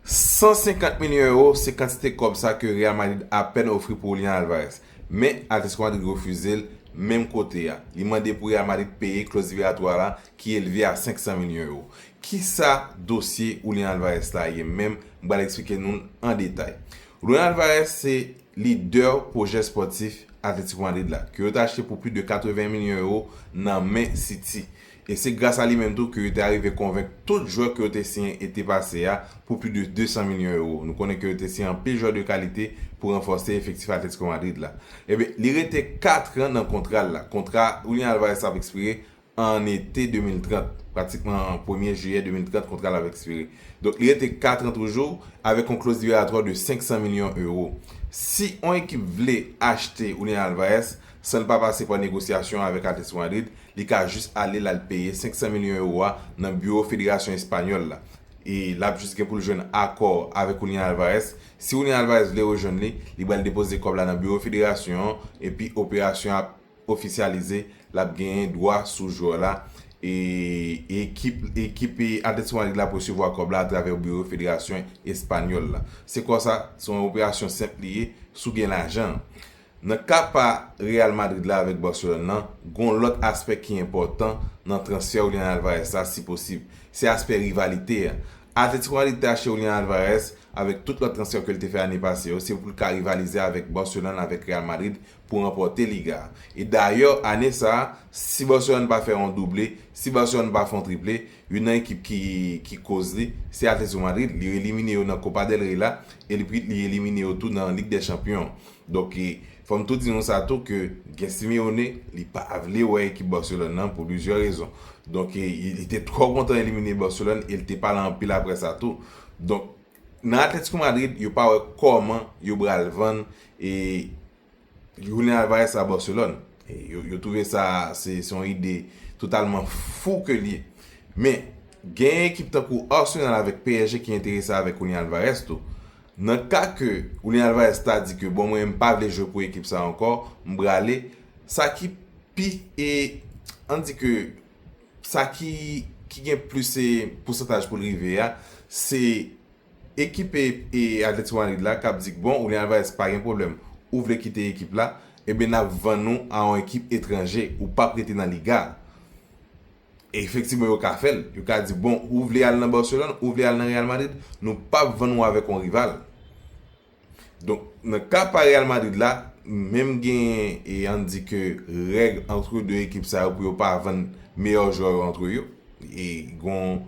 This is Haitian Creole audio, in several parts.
150 milyon ewo se kantite kòb sa ke Real Madrid apèn ofri pou Julian Alvarez, men Atletico Madrid refize l menm kote a. Li mande pou Real Madrid peye kloz liberatwa la ki elve a 500 milyon ewo. Kisa dosye Julian Alvarez la ye menm, m pral eksplike nou l an detay. Julian Alvarez se lidè pwojè spòtif Atletico Madrid la, ke yo te achte pou plis de 80 milyon ewo nan men City, E se gras a li menm tou ke yo te arive konvenk tout jwè ke yo te siyen ete pase a pou pli de 200 milyon ewo. Nou konnen ke yo te siyen anpil jwè de kalite pou ranfòse efektif Atletico Madrid la. Enben, li rete 4 tran nan kontra l la. Kontra Julian Alvarez ap ekspire an ete 2030. Pratikman an premye jiyè 2030 kontra l ap ekspire. Donk li rete 4 tran toujou avèk yon kloz liberatwa de 500 milyon ewo. Si yon ekip vle achte Julian Alvarez, San l pa pase pa negosyasyon avèk Atlético Madrid, li ka jis ale l al peye 500 milyon ewo a nan biwo federasyon espanyòl la. E l ap jis gen pou l jwenn akò avèk Julian Alvarez. Si Julian Alvarez vle rejwenn li, li pral depoze kòb la nan biwo federasyon an epi operasyon an ap ofisyalize, l ap genyen dwa sou jwè la e ekip Atlético Madrid la ap resevwa kòb la atravè biwo federasyon espanyòl la. Se konsa, se yon operasyon senp li ye si w gen lajan an. Nan ka pa Real Madrid la avèk Barcelone lan, gon lòt aspè ki enpòtan nan transfè Julian Alvarez la si posib, se aspè rivalite a. Atletico Madrid te achte Julian Alvarez avèk tout lòt transfè ke l te fè ane pase yo, se pou l ka rivalize avèk Barcelone avèk Real Madrid pou ranpòte Liga a. E dayè ane sa a, si Barcelone pa fè yon double, si Barcelone pa fè yon triple, Youn nan ekip ki ki koz li, se Atletico Madrid, li elimine yo nan Copa del Rey la, e li li elimine yo tou nan Lig dè Chanpyon. Donk e fò m tou di nou sa tou ke gen Simeone, li pa vle wè ekip Barcelone nan pou plizyè rezon. Donk e li te twò kontan elimine Barcelone e li te pale anpil aprè sa tou. Donk nan Atletico Madrid, yo pa wè kòman yo bral vann e Jounen Alvarez sa Barcelone. Yo twouve sa se yon ide totalman fou ke l ye. Men, gen ekip tankou Arsenal avèk psg ki enterese avèk Julian Alvarez tou. Nan ka ke Julian Alvarez ta di ke bon mwen m pa vle jwe pou ekip sa ankò, m prale, sa ki pi e, an di ke sa ki gen plis pousantaj pou l rive a, se. Ekip Atletico Madrid la kap di k bon Julian Alvarez pa gen pwoblèm ou vle kite ekip la ebyen nap vann ou a yon ekip etranje ou pap rete nan Liga a e efektivman yo ka fèl yo ka di bon ou vle al nan Barcelone ou vle al nan Real Madrid nou pap vann ou avèk yon rival. Donk nan ka pa Real Madrid la, menm genyen e ann di ke règ antre 2 ekip sa yo pou yo pa vann meyè jwè yo antre yo e gon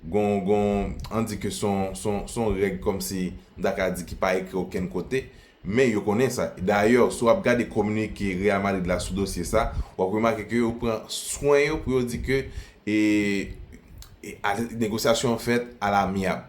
gon gon ann di ke son son son règ kòmsi m ta ka di ki pa ekri okenn kote men yo konnen sa. Dayè si w ap gade kominike Real Madrid la sou dosye sa w ap remake ke yo pran swen yo pou yo di ke e e negosyasyon an fèt alamyab.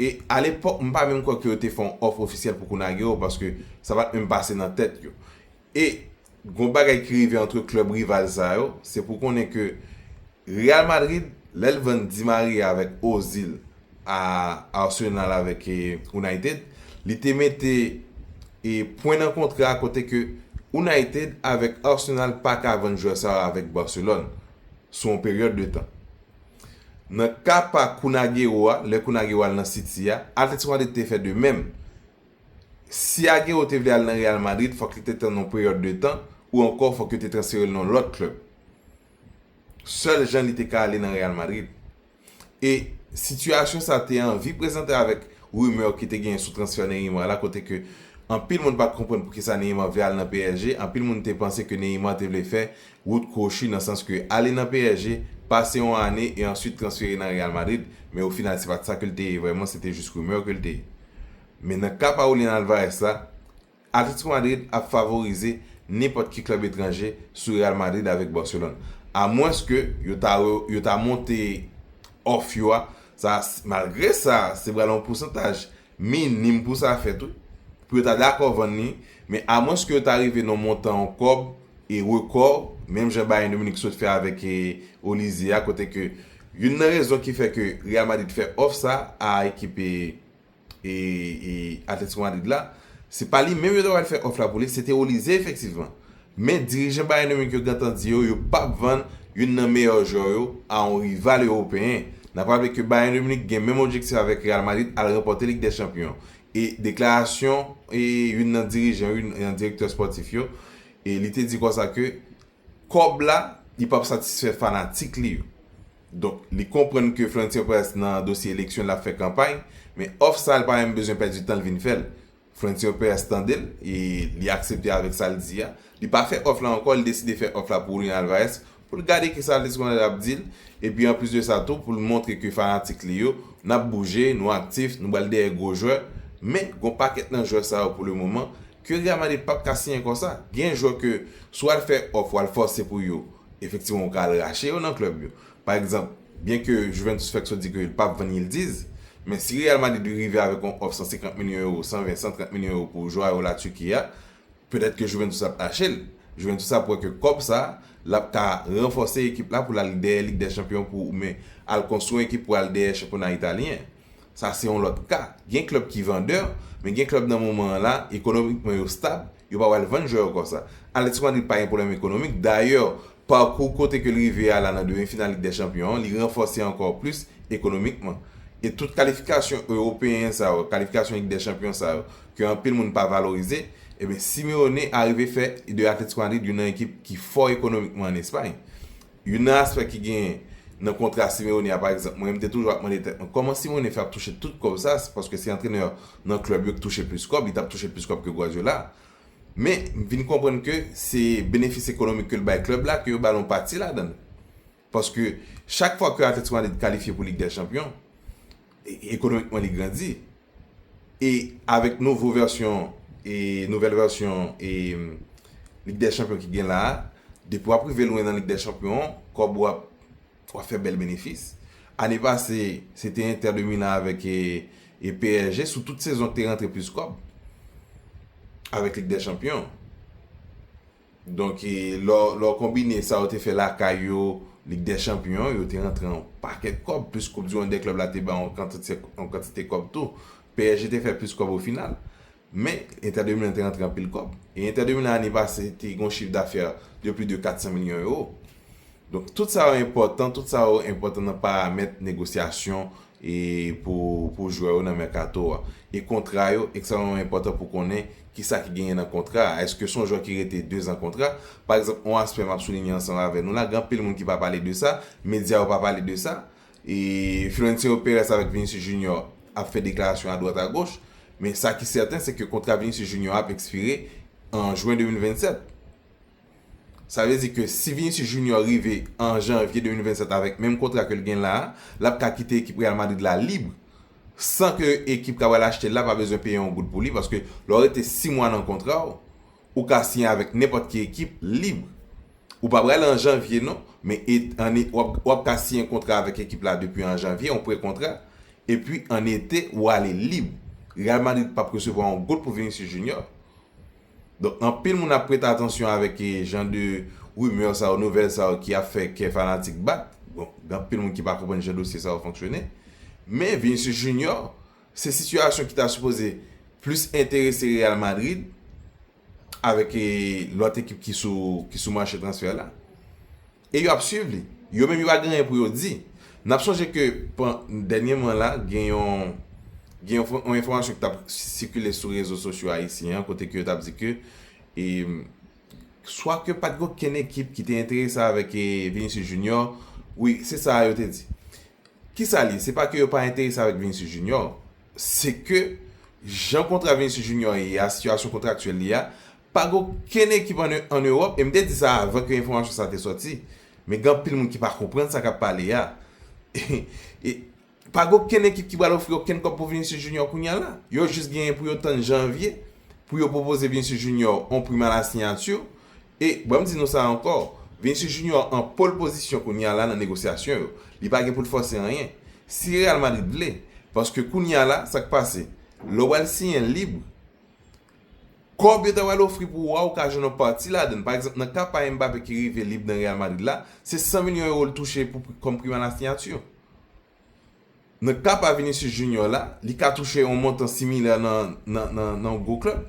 E alepòk m pa menm kwè ke yo te fè yon òf ofisyèl pou Kunagüero paske sa pat menm pase nan tèt yo. E gon bagay ki rive antre klèb rival sa yo, se pou konnen ke Real Madrid lè l vann Di Maria avèk Ozil a Arsenal avèk United, li te mete e pwen nan kontra a kote ke United avèk Arsenal pa ka vann jwè sa yo avèk Barcelone sou yon peryòd de tan. Nan ka pa Kun Aguero a, lè Kun Aguero al nan City a, Atletico Madrid te fè de menm. Si Aguero te vle al nan Real Madrid, fòk li te tann yon peryòd de tan, ou ankò fòk yo te transfere l nan yon lòt klèb. Sèl jan li te ka ale nan Real Madrid. E sitiyasyon sa te anvi prezante avèk rimè ki te genyen sou transfè Neymar la kote ke anpil moun pa t konprann poukisa Neymar vle al nan psg, anpil moun te panse ke Neymar te vle fè Wout kwochi nan sans ke ale nan psg, pase yon ane e answit transfere nan Real Madrid, men ofinal se pat sa ke l te ye vrèman, se te jis rumeur ke l te ye. Men nan ka pa Julian Alvarez la, Atletico Madrid ap favorize nenpòt ki klèb etranje sou Real Madrid avèk Barcelone. A mwens ke yo ta yo ta monte off yo a, sa malgre sa se pral yon pousantaj minim pou sa fèt wi, pou yo ta dakò vann li, men amwenske yo ta rive nan montan yon kòb e rekò, menm jan Bayern de Munich sot fè avèk Olise a kote ke youn nan rezon ki fè ke Real Madrid fè òf sa a ekip Atletico Madrid la, se pa li menm yo ta pral fè òf la pou li, se te Olise efektivman. Men dirijan Bayern Munich yo gentan di yo yo pap vann youn nan meyè jwè yo a yon rival ewopeyen. N ap raple ke Bayern Munich gen menm objektif avèk Real Madrid al ranpòte Lig dè Chanpyon e deklarasyon youn nan dirijan youn nan direktè spòtif yo e li te di konsa ke kòb la li pap satisfè fanatik li yo. Donk li konprann ke Florentino Perez nan dosye eleksyon l ap fè kanpay men òf sa l pa menm bezwen pèdi tan l vin fè l. Frontier Pers tande l e li aksepte avèk sa l di a. Li pa fè òf la ankò, li deside fè òf la pou Julian Alvarez pou l gade kisa Atletico Madrid ap di l epi anplis de sa tou pou l montre ke fanatik li yo n ap bouje, nou aktif, nou bal dèyè gwo jwè. Men, gon pakèt nan jwè sa yo pou le moman ke Real Madrid pap ka siyen konsa. Gen jwè ke si w al fè òf, w al fòse pou yo, efektivman ou ka al rache yo nan klèb yo. Pa egzanp, byenke Juventus fèk sot di ke l pap vann Yildiz, men si Real Madrid rive avèk yon òf 150 milyon ewo, 120, 130 milyon ewo pou jwè yo la Turquie a, petèt ke Juventus ap ache l. Juventus ap wè ke kòb sa, l ap ka ranfòse ekip la pou l al dèyè Lig dè Chanpyon pou oubyen al konstwi yon ekip pou al dèyè chanpyona italyen. Sa se yon lòt ka. Gen klèb ki vandè, men gen klèb nan moman an la, ekonomikman yo stab, Yo pa pral vann jwè yo konsa. Atletico Madrid pa gen pwoblèm ekonomik. Dayè, pakou kote ke l rive a la nan demi final Lig dè Chanpyon an, li ranfòse ankò plis ekonomikman. E tout kalifikasyon ewopeyen sa yo, kalifikasyon Lig dè Chanpyon sa yo, ke anpil moun pa valorize, eben Simeone arive fè de Atletico Madrid youn nan ekip ki fò ekonomikman an Espay. Youn nan aspè ki genyen nan kontra Simeone a pa egzanp, mwen menm m te toujou ap mande tèt mwen kòman Simeone fè ap touche tout kòb sa, se paske se antrenè nan klèb yo k touche plis kòb, li t ap touche plis kòb ke Guardiola. Men, m vin konprann ke se benefis ekonomik ke l bay klèb la ke yo ba l yon pati ladan l. Paske chak fwa ke Atletico Madrid kalifye pou Lig dè Chanpyon, ekonomikman li grandi e avèk nouvo vèsyon e nouvèl vèsyon e lig dè chanpyon ki gen la depi wap rive lwen nan lig dè chanpyon kòb ou ap wap fè bèl benefis ane pase se te entè de milan avèk e psg sou tout sezon te rantre plis kòb avèk lig dè chanpyon. Donk, lè w konbine sa yo te fè lakay yo, Lig dè Chanpyon, yo te rantre yon pakèt kòb, plis Koup Dimann dè Klèb la te ba yon kantite kòb tou. PSG te fè plis kòb ofinal. Men, Entè de Milan te rantre anpil kòb. E Entè de Milan ane pase te gen yon chif dafè de plis de 400 milyon ewo. Donk, tout sa yo enpòtan, tout sa yo enpòtan nan paramèt negosyasyon e pou pou jwè yo nan mèkato a. E kontra yo ekstrèmman enpòtan pou konnen kisa ki genyen nan kontra a. Èske son jwè ki rete dezan kontra? Pa egzanp, yon aspè m ap soulinye ansanm avè nou la, gen anpil moun ki pa pale de sa, medya yo pa pale de sa, e Florencio Perez avèk Vinicius Junior ap fè deklarasyon adwat agoch, men sa ki sèten se ke kontra Vinicius Junior a ap ekspire an jwen 2027. Sa vle di ke si Vinicius Junior rive an Janvye 2027 avèk menm kontra ke l gen la a, l ap ka kite ekip Real Madrid la lib, san ke ekip kap pral achte l la pa bezwen peye yon goud pou li, paske lè w rete 6 mwa nan kontra w, ou ka siyen avèk nenpòt ki ekip lib. Ou pa pral an Janvye non, men w ap ka siyen kontra avèk ekip la depi an Janvye, yon pre-kontra, epi an ete ou ale lib. Real Madrid pap resevwa yon goud pou Vinicius Junior, Donk anpil moun ap prete atansyon avèk jan de rumeur sa yo, nouvèl sa yo ki ap fè kè fanatik bat. Bon, gen anpil moun ki pa konprann jan dosye sa yo fonksyone. Men Vinicius Junior, se sitiyasyon ki ta sipoze plis enterese Real Madrid avèk lòt ekip ki sou mache transfè la. E yo ap swiv li. Yo menm yo pa gen anyen pou yo di. N ap sonje ke pen, dènyèman la, gen yon, gen yon, yon enfòmasyon ki t ap sikile sou rezo sosyo ayisyen an kote ke yo t ap di ke e, swa ke pa t gen okenn ekip ki te enterese avèk e Vinicius Junior, wi, se sa a yo te di. Ki sa l ye? Se pa ke yo pa enterese avèk Vinicius Junior, se ke jan kontra Vinicius Junior ye a, sitiyasyon kontraktyèl li a, Pa gen okenn ekip an Ewòp, e m te di sa avan ke enfòmasyon sa te sòti, men gen anpil moun ki pa konprann sa k ap pale a. E, pa gen okenn ekip ki pral ofri okenn kòb pou Vinicius Junior kounya la. Yo jis genyen pou yo tann janvye pou yo pwopoze Vinicius Junior yon prim a la sinyati. E, ban m di nou sa ankò, Vinicius Junior an pole pozisyon kounya la nan negosyasyon yo. Li pa gen pou l fòse anyen. Si Real Madrid vle, paske kounya la, sa k pase? Lè w al siyen lib, Kòb yo ta pral ofri pou ou a ou ka jwenn yon pati ladan l. Pa egzanp, nan ka pa Mbappé ki rive lib nan Real Madrid la, se 100 milyon ewo l touche pou kòm prim a la signature. Nan ka pa Vinicius Junior la, li ka touche yon montan similè nan nan yon gwo klèb.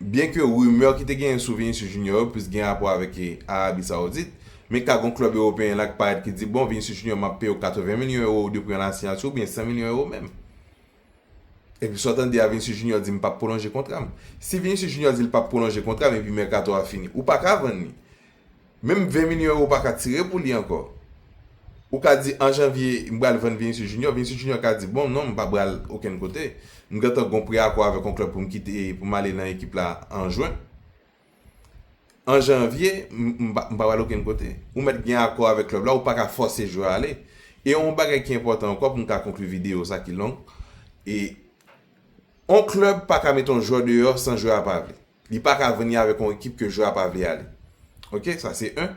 Byen ke rimè ki te genyen sou Vinicius Junior yo plis gen rapò avèk Arabie Saoudite, men ka gon klèb ewopeyen la ki parèt ki di bon Vinicius Junior m ap peye w 80 milyon ewo de prim a la signature oubyen 100 milyon ewo menm. Epi sa w tande a Vinicius Junior di m pap pwolonje kontra m. Si Vinicius Junior di l pap pwolonje kontra m epi mèkato a fini, ou pa ka vann li. Menm 20 milyon ewo ou pa ka tire pou li ankò. Ou ka di an janvye m pral vann Vinicius Junior, Vinicius Junior ka di bon non m pa pral okenn kote. M gentan gon pre-akò avèk yon klèb pou m kite pou m ale nan ekip la an jwen. an janvye m pa pral okenn kote, ou mèt gen akò avèk klèb la ou pa ka fòse jwè a ale. E yon bagay ki enpòtan ankò pou m ka konkli videyo sa ki long, yon klèb pa ka mete yon jwè deyò san jwè a pa vle. Li pa ka vini avèk yon ekip ke jwè a pa vle ale. Ok, sa se 1.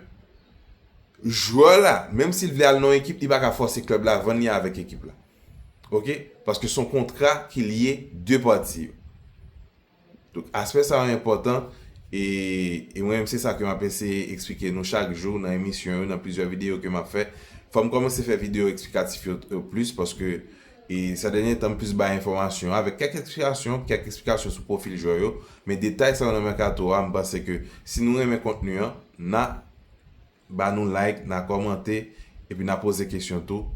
Jwè la, menm si l vle al nan yon ekip, li pa ka fòse klèb la vann li avèk ekip la. Ok, paske son kontra ki lye 2 pati yo. Tout aspè sa yo enpòtan e e mwen menm se sa ke map eseye eksplike nou chak jou nan emisyon yo nan plizyè videyo ke map fè. Fòm kòmanse fè videyo eksplikatif yo plis paske e sè dènye tan m plis bay enfòmasyon avèk kèk eksplikasyon, kèk eksplikasyon sou pwofil jwè yo, men detay sa yo nan mèkato a m panse ke si nou renmen kontni an na ba nou like, na kòmante epi na poze kesyon tou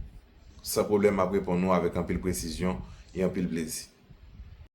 san pwoblèm map reponn nou avèk anpil presizyon e anpil plezi.